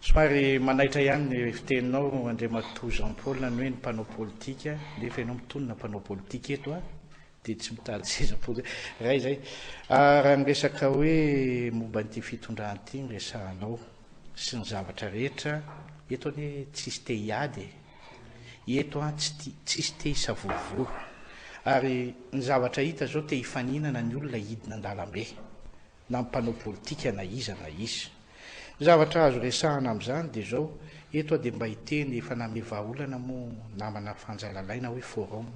Somary manaitra ihany ny fiteninao Andriamatoa Jean Paul ny hoe ny mpanao politika nefa ianao mitonona mpanao politika eto a dia tsy mitady seza politika iray izay ah, raha ny resaka hoe momba an'ity fitondrana ity ny resahanao sy ny zavatra rehetra eto anie tsisy te hiady e. Eto an tsy tia, tsisy te hisavorovoro. Ary ny zavatra hita zao te hifaninana ny olona hidina an-dalambe. Na ny mpanao politika na iza na iza. Ny zavatra azo resahana amin'izany dia zao, eto aho dia mba hiteny, efa nanome vahaolana moa namana Fanja Lalaina hoe forum.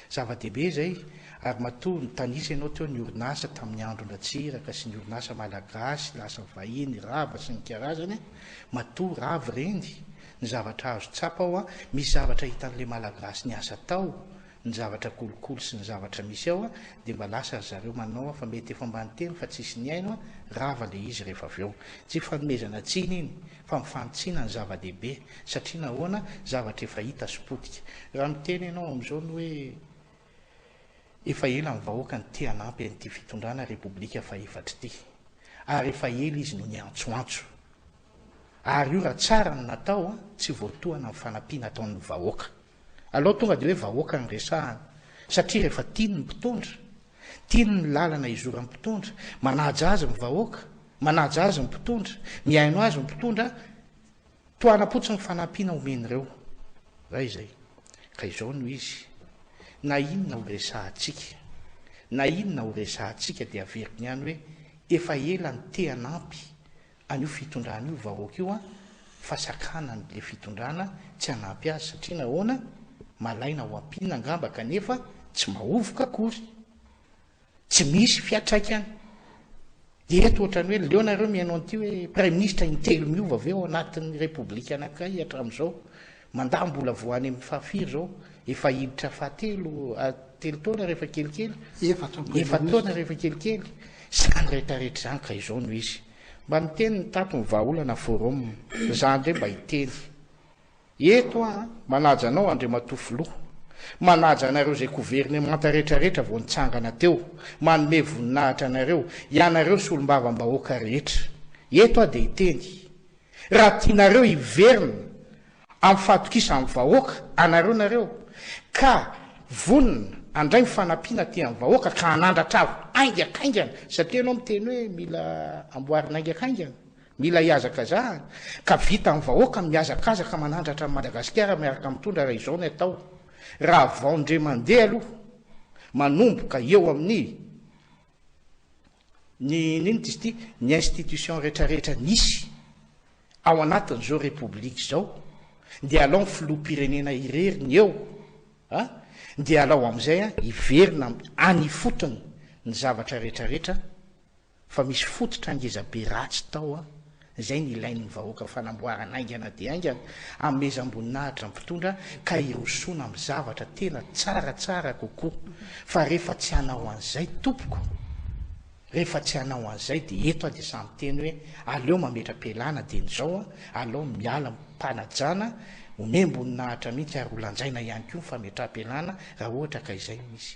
Zava-dehibe izay, ary matoa nitanisa ianao teo ny orinasa tamin'ny andron-dRatsiraka sy ny orinasa malagasy lasa vahiny rava sy ny karazany, matoa rava ireny, Ny zavatra azo tsapa ao a, misy zavatra hitan'le malagasy niasa tao, ny zavatra kolikoly sy ny zavatra misy ao a, dia mba lasa ry zareo manao a, fa mety efa mba niteny fa tsisy nihaino a, rava le izy rehefa avy eo. Tsy fanomezana tsiny iny, fa mifanitsiana ny zava-dehibe, satria nahoana, zavatra efa hita sy potika. Raha miteny ianao amin'izao ny hoe efa ela ny vahoaka no te hanampy an'ity fitondrana repoblika faha efatra ity, ary efa ela izy no niantsoantso, Ary io raha tsara no natao an, tsy voatohana ny fanampiana ataon'ny vahoaka. Alao tonga dia hoe vahoaka no resahana. Satria rehefa tiany ny mpitondra, tiany ny lalana hizoran'ny mpitondra, manaja azy ny vahoaka, manaja azy ny mpitondra, mihaino azy ny mpitondra, tohanam-potsiny ny fanampiana omen'ireo. Raha izay, ka izao no izy, na inona ho resahantsika, na inona ho resahantsika dia averiko ihany hoe efa ela nitehan'ampy an'io fitondrana io vahoaka io an, fa sakanany le fitondrana tsy hanampy azy satria nahoana? malaina ho ampiana angamba kanefa tsy mahovoka akory, tsy misy fiatraikany eto ohatrany hoe leo nareo mihaino an'ity hoe praiminisitra intelo miova avy eo anatin'ny repoblika anankiray hatramin'izao Mandà mbola vao any amin'ny faha firy izao? Efa hiditra faha telo, telo taona rehefa kelikely, efa-taona rehefa kelikely izany rehetrarehetra izany ka izao no izy. Mba miteny ny tato ny vahaolana forum, izaho indray mba hiteny eto aho an! Manaja anao Andriamatoa Filoha, manaja anareo izay governemanta rehetrarehetra vao nitsangana teo, manome voninahitra anareo, ianareo solombavambahoaka rehetra. Eto aho dia hiteny Raha tianareo hiverina amin'ny fahatokisan'ny vahoaka anareo nareo ka vonona handray ny fanampiana aty amin'ny vahoaka ka hanandratra avo haingankaingana satria ianao miteny hoe mila amboarina haingankaingana, mila hihazakazahana ka vita amin'ny vahoaka ny mihazakazaka manandratra an'i Madagasikara miaraka amin'ny tondra raha izao ny atao raha vao ndre mandeha aloha manomboka eo amin'ny Ny inona izy ity? Ny institutions rehetrarehetra nisy ao anatin'izao Repoblika izao dia alao ny Filoham-pirenena irery ny eo a! dia alao amin'izay a! hiverina any ifotony ny zavatra rehetrarehetra fa misy fototra ngezabe ratsy tao a! izay no ilain'ny vahoaka ho fanamboarana haingana dia haingana, amezam-boninahitra ny mpitondra ka hirosoana amin'ny zavatra tena tsaratsara kokoa, fa rehefa tsy hanao an'izay tompoko, rehefa tsy hanao an'izay dia eto aho dia sahy miteny hoe aleo mametra-pialana dieny izao an, alao miala am-panajana, omem-boninahitra mihitsy ary ho lanjaina ihany koa ny fametraham-pialana raha ohatra ka izay no misy.